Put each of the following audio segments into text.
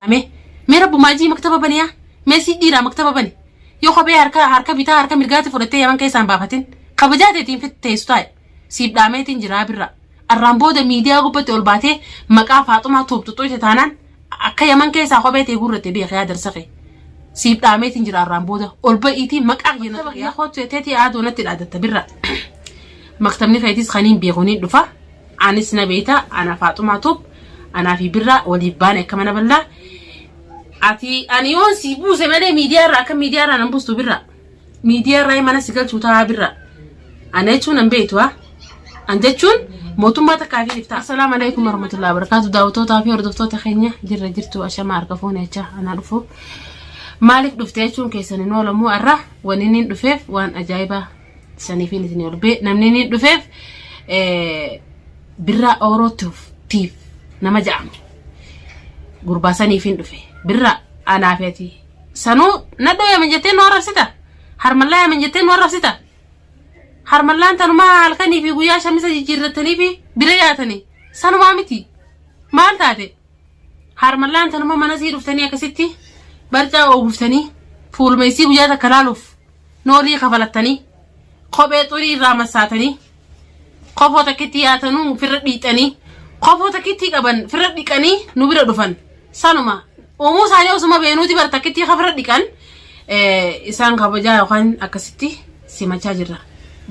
Mee mee rabbumaa jii maktaba bani yaa mee sii dhiiraa maktaba bani yoo kophee harka harka bitaa harka mirgaatti fudhattee yaman keessaan baafatin kabajaa teetiin fit teessu taa'e siif dhaameetiin jiraa birraa arraan booda miidiyaa gubbatti ol baatee maqaa faaxumaa tuuxuxuute taanaan akka yaman keessaa kophee tee guurratte beek yaa darsa kee siif dhaameetiin jira arraan booda ol ba'iitii maqaa kiyya na tuqi yaa kootu teetii aaduu natti dhaadatta birraa maktabni keetis kaniin beekuniin dhufa Anis na beeyta ana faaxumaa tube anaa fi birraa waliif baane akka mana ballaa ati ani yoon si buuse malee miidiyaa irraa akka miidiyaa irraa nan buustu birraa miidiyaa irraa mana si galchuu taa'aa birraa ana jechuun nan beeytu haa an jechuun mootummaa takkaa fi iftaa assalaamu alaikum warahmatullahi wabarakaatu daawwatootaa fi hordoftoota keenya jirra jirtu ashamaa harka fuune jechaa anaa dhufu maaliif dhufte jechuun keessan hin oolamu irraa waan inni hin dhufeef waan ajaa'ibaa sanifiin isin olbee namni inni dhufeef birraa oorootiif nama ja'ame gurbaa saniifiin dhufe birraa anaafeeti sanuu nadhoo yaaman jettee nu arrabsita harmallaa yaaman jettee nu arrabsita harmallaan tanumaa halkanii fi guyyaa shamisa jijjiirrattanii fi bira yaatanii sanumaa miti maal taate harmallaan tanuma mana sii dhuftanii akkasitti barcaa ooguftanii fuuluma isii guyyaa takka laaluuf Noolii kafalattanii, kophee xurii irraa massaatanii, kofoo takkittii yaatanuu ofirra dhiixanii, kofoo takkittii qaban ofirra dhiqanii nu bira dhufan. Sanuma uumuu isaanii osuma beenuuti bara takkittii kan ofirra dhiqan eh, isaan kabajaa yookaan akkasitti simachaa jirra.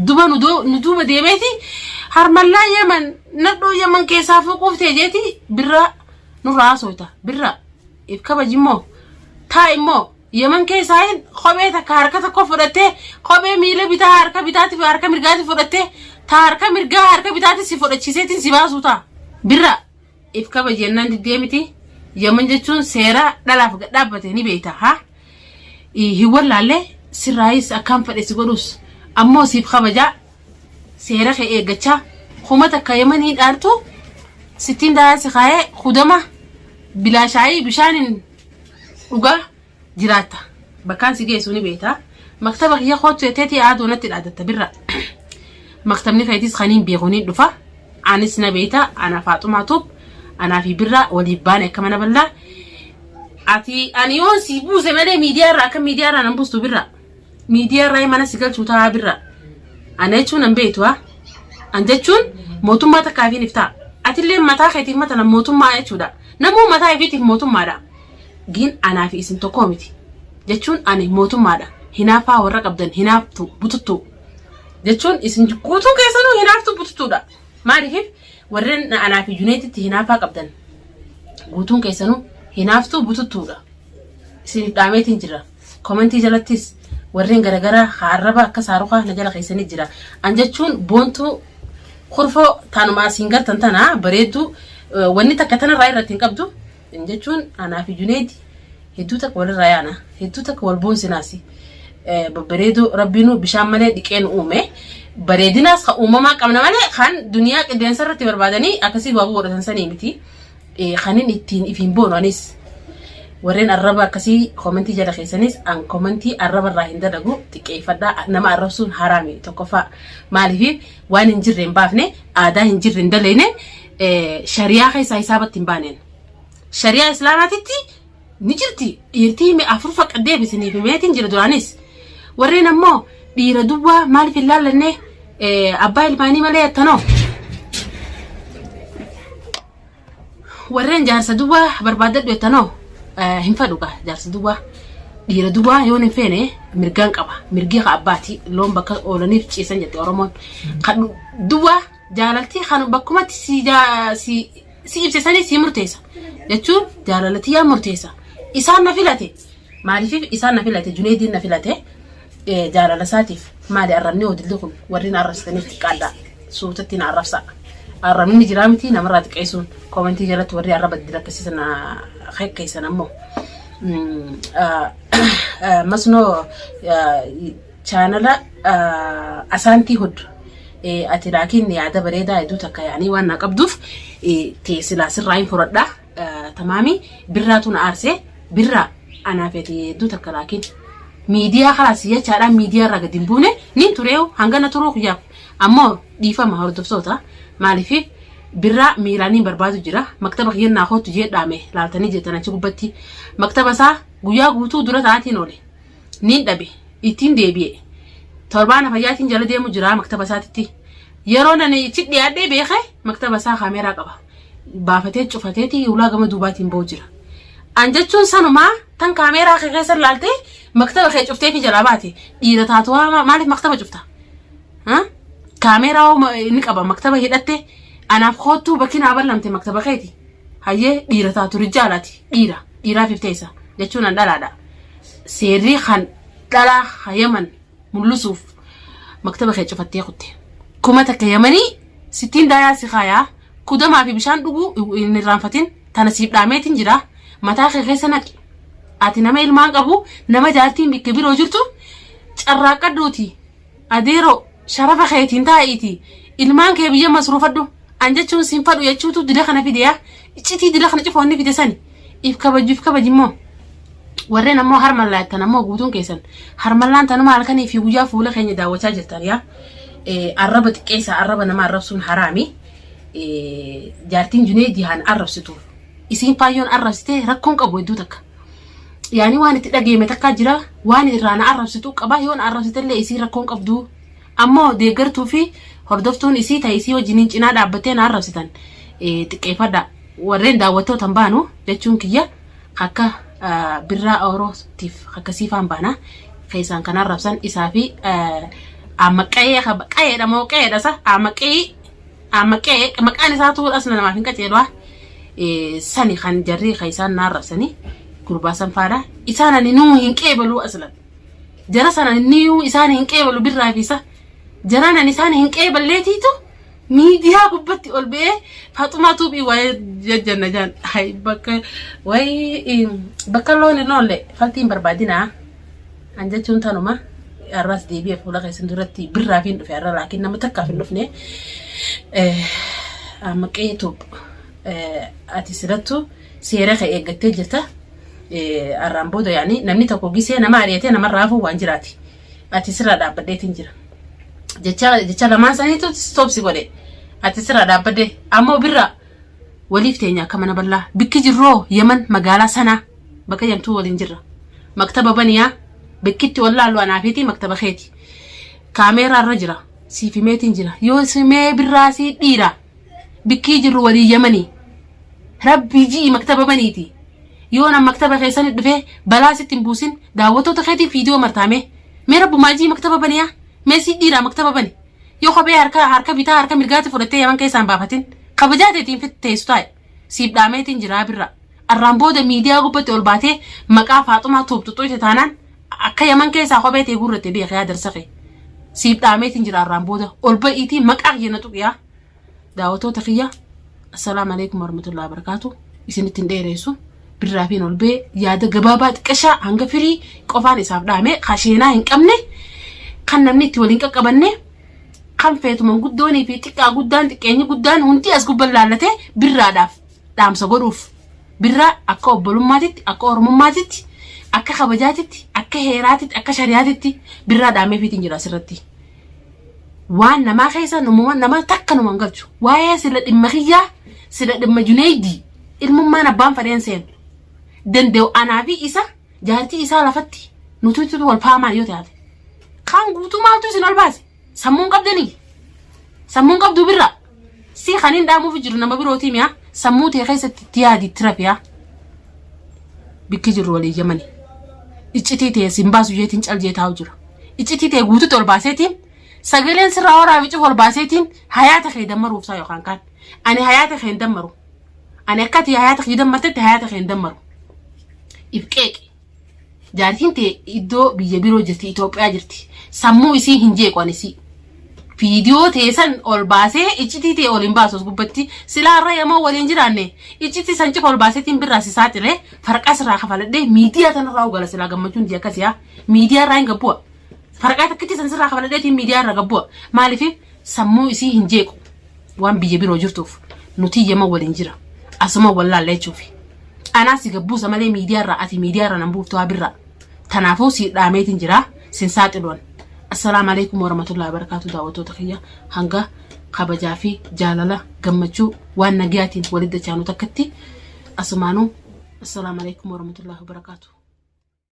Duba nu doo- nu duuba deemeeti harmallaa yaman nadhoo yaman keessaa fuquuf ta'e jeeti birraa nurraa haasofta birraa. if kabajimmoo taa immoo yeman keessaa hin kophee takka harka tokko fudhattee kophee miila bitaa harka bitaatiif harka mirgaatiif fudhattee taa harka mirgaa harka bitaatiif si fudhachiiseetiin si baasuu taa birra if kabaji jennaan diddee miti yeman jechuun seera dhalaaf gad dhaabbate ni beeyta haa hin wallaalle sirraayis akkaan fedhe si godhus ammoo siif kabajaa seera kee eeggachaa kuma takka yamanii dhaartu sittiin daaraa si kaayee hudama bilaashaayii bishaaniin dhugaa jiraatta bakkaan si geessu ni beekta maktaba kiyya koottu jetteetii aaduu natti dhaadatta birra maktabni keetis kaniin beeku ni dhufa. Anis na beeyta ana faaxumaa tube anaa fi birraa waliif baane akka mana ballaa ati ani yoon si buuse malee miidiyaa irraa akka miidiyaa irraa nan buustu birraa miidiyaa irraa mana si galchuu taa'aa birraa ana jechuun an beeytu haa an jechuun mootummaa takkaa fi nif ta'a atillee mataa keetiif matala mootummaa jechuudha namuu mataa ifiitiif mootummaadha giin anaa fi isin tokkoo miti jechuun ani mootummaadha hinaafaa warra qabdan hinaaftu bututtuu jechuun isin guutuu keessanuu hinaaftuu bututuudha. Maaliif warreen anaa fi Juneetitti hinaafaa qabdan guutuun keessanuu hinaaftuu bututuudha. Isiniif dhaameetiin jira. Komentii jalattis warreen garagaraa haa arraba akka saarukaa na jala keessanii jira. An jechuun boontuu kurfoo taanuma asiin gartan tana bareedduu wanni takka tanarraa irratti hin qabdu. Kan jechuun anaa fi Juneedi hedduu takka walirraa yaana. Hedduu takka wal boonsinaas. Babbareedoo rabbiinuu bishaan malee dhiqee nu uume. Bareedinaas kan uumamaa qabna malee kan duniyaa qilleensa irratti barbaadanii akkasii baabuu godhatan sanii miti. Kan inni ittiin ifiin boonu anis. Warreen arraba akkasii komentii jala keessanis an komentii arraba irraa hin dalagu xiqqeeffadhaa nama arrabsuun haraami tokkoffaa. Maaliif waan hin jirre hin baafne aadaa hin jirre hin daleene shariyaa keessaa hisaabatti hin baaneen. Shariyaa islaamaatitti ni jirti dhiirtii hime afur faqqa deebisiniif himeetiin jira duraanis. Warreen ammoo dhiira duwwaa maaliif hin laallannee abbaa ilmaanii malee attanoo. Warreen jaarsa duwwaa barbaadadhu attanoo hin fadhuqa jaarsa duwwaa. Dhiira duwwaa yoon hin feene mirgaan qaba. Mirgii ka abbaati loon bakka oolaniif ciisan jette Oromoon. Kan duwwaa Jaalalti kan bakkumatti si jaa- si si ibse sanii si murteessa. Jechuun jaalala tiyyaa murteessa. Isaan na filate. Maaliif isaan na filate? Juneediin na filate. Eh, Jaalala isaatiif maali arrabni odilli kun warri na arrabsitaniif xiqqaadha. Suutatti na arrabsa. Arrabni jiraa miti namarraa xiqqeessuun koomentii jalatti warri arraba dilakkisiisan na kekkeessan ammoo. Mm, ah, ah, Masnoo ah, Chaanala Asaantii Hud ati naa kenne yaada bareedaa hedduu takka yaanii waan naa qabduuf tee silaa sirraa hin furadha. Tamaami birraatu na aarsee birraa anaa feeti hedduu takka laakiin miidiyaa kalaas jechaadha miidiyaa irraa gadi hin buune niin turee hangana turuu kiyyaaf ammoo dhiifama hordoftoota maaliif birraa miilaan hin barbaadu jira maktaba kiyyan naa kootu jee dhaame laaltanii jeetan achi gubbatti maktaba isaa guyyaa guutuu dura ta'aatiin oole. niin dhabe ittiin deebi'e torbaana fayyaatiin jala deemu jira maktaba isaatitti yeroo nani itti dhiyaadhee beeke maktaba isaa kaameeraa qaba baafatee cufateeti ulaa gama duubaatiin ba'u jira an jechuun sanumaa tan kaameeraa kee keessa ilaaltee maktaba kee cuftee fi jalaa baate dhiira taatu haa maaliif maktaba cufta Haa? kaameeraa hoo ma- ni qaba maktaba hidhatte anaaf koottuu bakki naa ballamte maktaba keeti hayyee dhiira taatu rijaalaati dhiira dhiiraaf ifteessa jechuun an dhalaadha seerrii kan dhalaa ha yaman mul'isuuf maktaba kee cufattee kutte kuma takka yamanii sittiin daayaa si kaayaa kudamaa fi bishaan dhuguu hin irraanfatin tana siif dhaameetiin jira mataa kee keessa naqi ati nama ilmaan qabu nama jaartiin bikka biroo jirtu carraaqqadhuuti Adeeroo sharafa keetiin taa'iiti ilmaan kee biyya masruufadhu an jechuun sin fadhu jechuutu dila kana fide yaa iccitii dila kana cufoonni fide sani if kabajju if kabaji immoo warreen ammoo harmallaa jettan ammoo guutuun keessan harmallaan tanuma halkanii fi guyyaa fuula keenya daawwachaa jirtan yaa Eh, arraba xiqqeessa arraba nama arrabsuun haraami Eh, jaartiin junee dihaan arrabsitu isiin faayyoon arrabsite rakkoon qabu hedduu takka yaani waan itti dhageeme takkaa jira waan irraa na arrabsituu qabaa yoo na arrabsitellee isii rakkoon qabduu ammoo deeggartuu fi hordoftuun isii ta'e isii wajjiniin cinaa dhaabbattee na arrabsitan xiqqeeffadha warreen daawwattootan baanu jechuun kiyya akka birraa orootiif akka siifaan baana keessaan kan arrabsan isaa fi amma qa'ee qa'eedha moo qa'eedha sa amma qa'ee Amma qe'ee maqaan isaa tuur asna namaaf hin qaceelwaa sani kan jarrii kan isaan naa rabsanii gurbaa san faadha isaan ani nuu hin qeebaluu aslan jara san ani nuu isaan hin qeebalu birraa fi isa jaraan ani isaan hin qeeballeetiitu miidiyaa gubbatti ol ba'ee faaxumaa tuubii waa'ee jajjanna jaan hay bakka waa'ee bakka loon hin oolle faltiin barbaadinaa. An jechuun tanuma har'aas deebi'ee fuula keessan duratti birraafiin dhufe har'a laakiin nama takkaaf hin dhufne amma qeetuub ati sirattu seera kee eeggattee jirta har'aan booda yaani namni tokko gisee nama ari'atee namarraa hafuu waan jiraati ati sirraa dhaabbadheetiin jira jecha jecha lamaan saniitu stoopsi godhe ati sirraa dhaabbadhee ammoo birraa waliif teenya akka mana bal'aa bikki jirroo yaman magaalaa sanaa bakka jamtuu waliin jirra maktaba baniyaa bakkitti wallaallu anaafiitii maktaba keeti kaameeraa irra jira siif himeetiin jira yoo simee birraa sii dhiira bikkii jirru walii yamanii rabbii ji'i maktaba baniiti yoo nan maktaba keessan dhufee balaa sitti hin buusin daawwattoota keetiin viidiyoo martaamee mee rabbumaa ji'i maktaba baniyaa mee sii dhiiraa maktaba bani yoo kophee harka harka bitaa harka mirgaatti fudhattee yaman keessaan baafatin kabajaa teetiin teessu taa'e siif dhaameetiin jiraa birraa. Arraan booda miidiyaa gubbatti ol baatee maqaa faaxumaa tuuxxuxxuu ite taanaan akka yaman keessaa kophee tee guurratte beeka yaa darsa kee. Siif dhaameetiin jira arraan booda ol ba'iitii maqaa kiyya na tuqiyaa. Daawwattoota kiyya assalaamu alaikum warahmatullahi wabarakaatu isinitti hin dheereessu. Birraafiin ol ba'ee yaada gabaabaa xiqqashaa hanga firii qofaan isaaf dhaamee kasheenaa hin qabne kan namni itti waliin qaqqabanne Kan feetu manguddoonii fi xiqqaa guddaan xiqqeenyi guddaan hundi as gubban laallatee birraadhaaf dhaamsa godhuuf. Birraa akka obbolummaatitti, akka oromummaatitti, akka kabajaatitti, akka heeraatitti, akka shariyaatitti birraa dhaameefiitiin jira asirratti. Waan namaa keessa numuma nama takka numa hin galchu. Waa'ee sila dhimma kiyyaa, sila dhimma Juneeydii, ilmummaan abbaan fadheen seenu. Danda'u anaa fi isa jaartii isaa lafatti nutuutu wal faamaa yoo taate kaan guutuu maaltu isin ol baase sammuun qabdanii sammuun qabduu birraa si kan hin dhaamuuf jiru nama birootii mi'a sammuu ta'e keessatti itti yaadi itti rafiyaa bikki jirru walii yamani iccitii ta'e siin baasu jeetiin cal jee taa'u jira iccitii ta'e guutuutti ol baaseetiin sagaleen sirraa waraabicuuf ol baaseetiin hayaata kee dammaruuf isaa yookaan kaan ani hayaata kee hin dammaru Ani akka ati hayaata kiyya dammartetti hayaata kee hin dammaru. Ibqeeqi. Jaartiin tee iddoo biyya biroo jirti, Itoophiyaa jirti. Sammuu isii hin jeequ ani isii. Viidiyoo tee san ol baasee iccitii tee ol hin baasu as gubbatti. Silaa irra yamoo waliin jiraanne iccitii san cufa ol baaseetiin birraa si saaxilee farqaa sirraa kafaladhee miidiyaa tanarraa hogala silaa gammachuun tiyya akkasiyaa. Miidiyaa irraa hin gabbu'a. Faraqaa takkicha san sirraa kafaladheetiin miidiyaa irra gabbu'a. Maaliif sammuu isii hin jeequ waan biyya biroo jirtuuf nuti yama waliin jira. Asuma wallaalle jechuufi. Anaa si gabbuusa malee miidiyaa irraa ati miidiyaa irraa nan buuftu haa birraa. Tanaafuu si dhaameetiin jira sin saaxiluwan. Assalaamu alaikum warahmatullahi wabarakatuh daawwattoota kiyya hanga kabajaa fi jaalala gammachuu waan nagiyaatiin walitti dachaanu takkatti asumaanuu assalaamu alaikum warahmatullahi wabarakatuh.